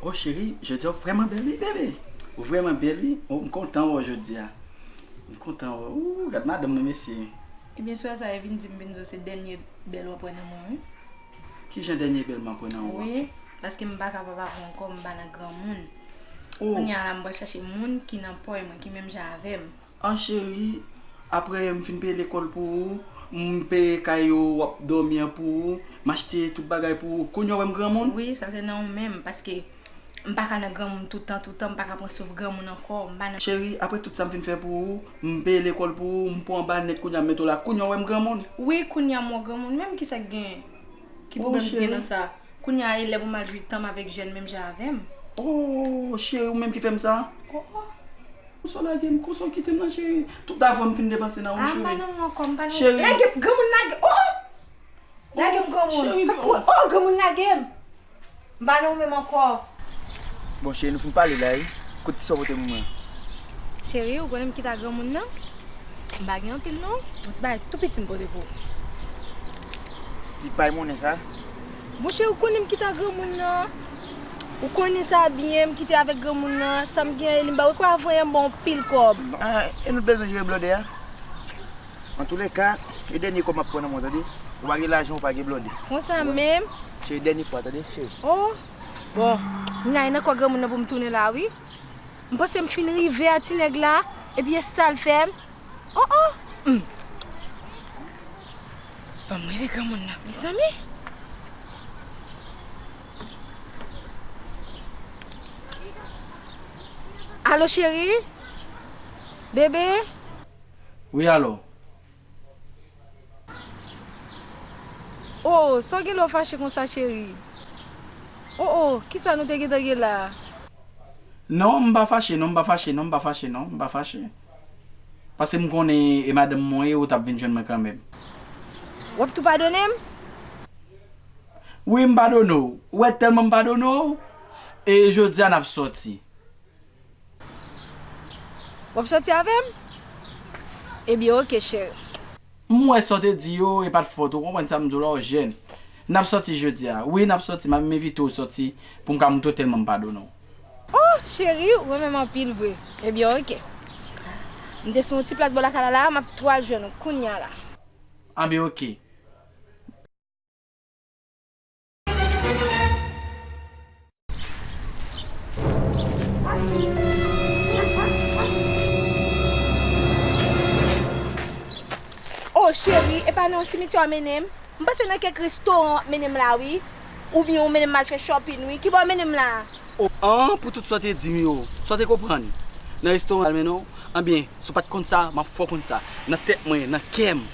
Oh cheri jodi a ou vreman bel wi bebe ou vreman bel wi oh m kontan wè w jodi a m kontan wè w ooh gad madanm nan mesye. Ebyen swa sa e vin dim vin di w se dènye bèl wap wè nan mwen wi. Kijan dènye bèl map wè nan ou an. Wi paske m pa kapab avè w ankò m pa nan granmoun kounya la m pral chache moun ki nan pòy mwen ki menm jan avè m. An cheri aprè m fin peye lekòl pou ou m peye kay ou wap dòmi an pou ou m achte tout bagay pou ou kounya w wè m granmoun? Wi sa se nan ou menm paske m paka nan granmoun toutan toutan m paka pran souf granmoun ankò m pa nan. Cheri aprè tout sa m fin fè pou ou m peye lekòl pou ou m pran w anba nèt kounya m mete w la kounya w wè m granmoun? Wi kounya m wè w granmoun menm kisa k gen? Ki pwoblèm ki gen nan sa? Kounye a e lè pou m al jwi tan m avèk jèn menm jan avè m? Ooh cheri ou menm ki fè m sa? Oh oh. Konsa w lage m? Konsa w kite m nan cheri? Tout avan m fin depanse nan ou cheri. Ah m pa nan ou ankò, m pa nan ou. Cheri. Lage m, granmoun lage m. Oh oh. Lage m granmoun. Cheri. Sa k pou, oh granmoun lage m. M pa nan ou menm ankò. Bon cheri nou fin pale la wi. Kot ti sa w pote pou mwen an? Cheri ou konnen m kita granmoun nan. M pa gen anpil non. Bon ti bagay tou piti m pote pou ou. Ti pay monnen sa? Bon cheri ou konnen m kita granmoun nan. Ou konnen sa byen m kite avèk granmoun nan. Sa m gen an e li m ba ou. Ou kwè avanyè m ba w anpil kòb. E nou t bezwen jere blòdè a? Antoulèka, e dènye kòb m ap pran nan men w tande. Ou pa gen lajan ou pa gen blòdè. Konsa menm? Se dènye fwa tande cheri. O! Bon, m ale nan kò granmoun nan pou m tounen la wi. M panse m fin rive a ti nèg la, epi e sa l fè m. O o! Hum! Ban m rele granmoun nan mezanmi! Alo cheri? Bebe? Wi alò. Oh sa w gen lè w fache konsa cheri? Oh oh kisa nou te gentan gen la a? Non m pa fache non m pa fache non m pa fache non m pa fache. Paske m konnen e madanm mwen e ou t ap vin jwenn mwen kanmenm. W ap tou padone m? Wi m padone w. Ou wè tèlman m padone w e jodi a n ap sòti. Wap soti avèm? Ebyen ok cheri. M wè sa w te di yo e pat fot ou konprann sa m di w la ou jèn. Nap soti jodia. Wi nap soti ma m envite w soti pou m ka montre w tèlman m padone w. Oh cheri ou renmen m anpil vre. Ebyen ok. M te sou yon ti plas bò lakay la la a map tou al jwenn ou kounya la. Anben ok. Oh chérie epa nan yon simityè wap mennen m? M panse nan kèk restoran wap mennen m la wi Oubyen ou mennen m al fè shopping wi Kibò w mennen m la? Oh an pou tout sa w te di m yo sa w te konprann Nan restoran wap mennen w Anbyen si w pat konn sa map fè w konn sa Nan tèt mwen nan kè m.